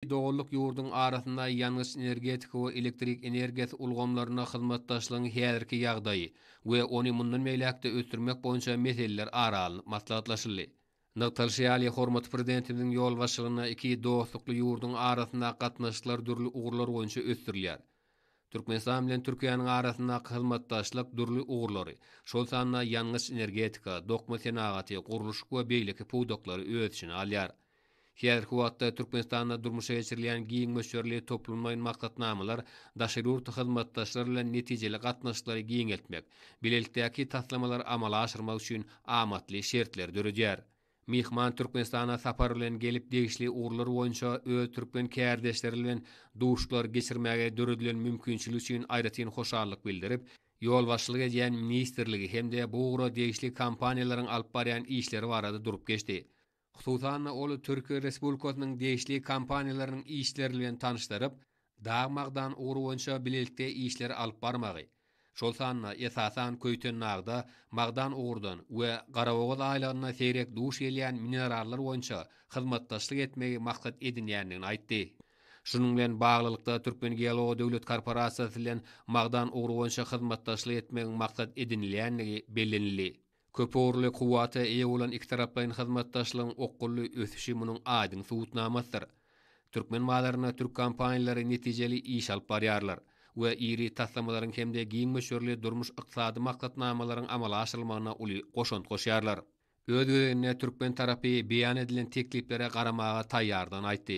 Doganlyk ýurduň arasynda ýangyç-energetika we elektrik energiýasy ulgamlarynda hyzmatdaşlygyň häzirki ýagdaýy we ony mundan beýläk-de ösdürmek boýunça meseleler ara alnyp maslahatlaşyldy. Nygtalyşy ýaly, hormatly Prezidentimiziň ýolbaşçylygynda iki dostlukly ýurduň arasyndaky gatnaşyklar dürli ugurlar boýunça ösdürilýär. Türkmenistan bilen Türkiýäniň arasyndaky hyzmatdaşlyk dürli ugurlary, şol sanda ýangyç-energetika, dokma senagaty, gurluşyk we beýleki pudaklary öz içine alýar. Häzirki wagtda Türkmenistanda durmuşa geçirilýän giň möçberli toplumlaýyn maksatnamalar daşary ýurt hyzmatdaşlar bilen netijeli gatnaşyklary giňeltmek, bilelikdäki taslamalary amala aşyrmak üçin amatly şertleri döredýär. Myhman Türkmenistana sapar bilen gelip degişli ugurlar boýunça öz türkmen kärdeşleri bilen duşuşyklar geçirmäge döredilen mümkinçilik üçin aýratyn hoşallyk bildirip, ýolbaşçylyk edýän ministrligi hem-de bu ugra degişli kompaniýalaryň alyp barýan işleri barada durup geçdi. Hususan-da, ol Türkiýe Respublikasynyň degişli kompaniýalarynyň işleri bilen tanyşdyryp, dag-magdan ugry boýunça bilelikde işleri alyp barmagy, şol sanda, esasan, Köýtendagda magdan ugurdan we Garabogaz aýlagynda seýrek duş gelýän minerallar boýunça hyzmatdaşlyk etmegi maksat edinýändigini aýtdy. Şunuň bilen baglylykda, Türkmengeology döwlet korporasiýasy bilen magdan ugry boýunça hyzmatdaşlyk etmegiň maksat edinilýändigi bellenildi. Köpugurly kuwwata eýe bolan ikitaraplaýyn hyzmatdaşlygyň okgunly ösüşi munuň aýdyň subutnamasydyr. Türkmen bazarynda türk kompaniýalary netijeli iş alyp barýarlar we iri taslamalaryň hem-de giň möçberli durmuş-ykdysady maksatnamalaryň amala aşyrylmagyna uly goşant goşýarlar. Öz gezeginde türkmen tarapy beýan edilen tekliplere garamaga taýýardygyny aýtdy.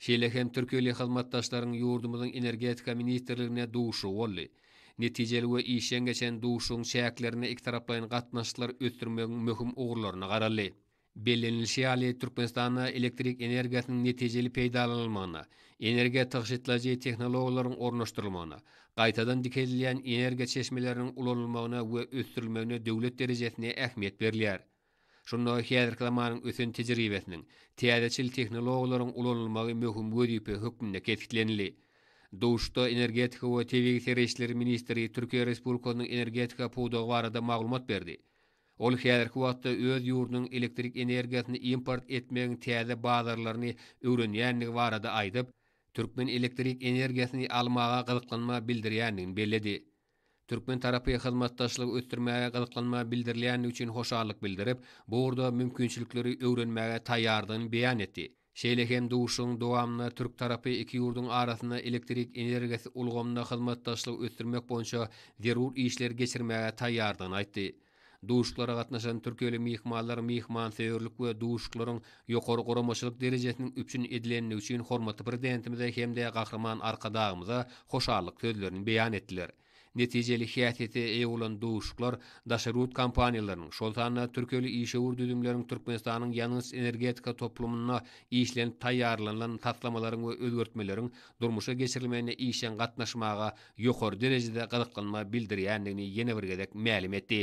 Şeýle hem türkiýeli hyzmatdaşlaryň ýurdumyzyň Energetika ministrligine duşuşygy boldy. Netijeli we işjeň geçen duşuşygyň çäklerinde ikitaraplaýyn gatnaşyklary ösdürmegiň möhüm ugurlaryna garaldy. Bellenilişi ýaly, Türkmenistanda elektrik energiýasynyň netijeli peýdalanylmagyna, energiýa tygşytlaýjy tehnologiýalaryň ornaşdyrylmagyna, gaýtadan dikeldilýän energiýa çeşmeleriniň ulanylmagyna we ösdürilmegine döwlet derejesinde ähmiýet berilýär. Şunda häzirki zamanyň ösen tejribesiniň, täzeçil tehnologiýalaryň ulanylmagy möhüm wezipe hökmünde kesgitlenildi. Duşuşykda energetika we tebigy serişdeler ministri Türkiýe Respublikasynyň energetika pudagy barada maglumat berdi. Ol häzirki wagtda öz ýurdunyň elektrik energiýasyny import etmegiň täze bazarlaryny öwrenýändigi barada aýdyp, türkmen elektrik energiýasyny almaga gyzyklanma bildirýändigini belledi. Türkmen tarapy hyzmatdaşlygy ösdürmäge gyzyklanma bildirilýändigi üçin hoşallyk bildirip, bu ugurda mümkinçilikleri öwrenmäge taýýardygyny beýan etdi. Şeýle hem duşuşygyň dowamynda türk tarapy iki ýurduň arasynda elektrik energiýasy ulgamynda hyzmatdaşlygy ösdürmek boýunça zerur işleri geçirmäge taýýardygyny aýtdy. Duşuşyklara gatnaşan türkiýeli myhmanlar myhmansöýerlik we duşuşyklaryň ýokary guramaçylyk derejesiniň üpjün edilendigi üçin hormatly Prezidentimize hem-de Gahryman Arkadagymyza hoşallyk sözlerini beýan etdiler. Netijeli häsiýete eýe bolan duşuşyklar daşary ýurt kompaniýalarynyň, şol sanda türkiýeli işewür düzümleriň Türkmenistanyň ýangyç-energetika toplumynda işlenip taýýarlanylan taslamalaryň we özgertmeleriň durmuşa geçirilmegine işjeň gatnaşmaga ýokary derejede gyzyklanma bildirýändigini ýene bir gezek mälim etdi.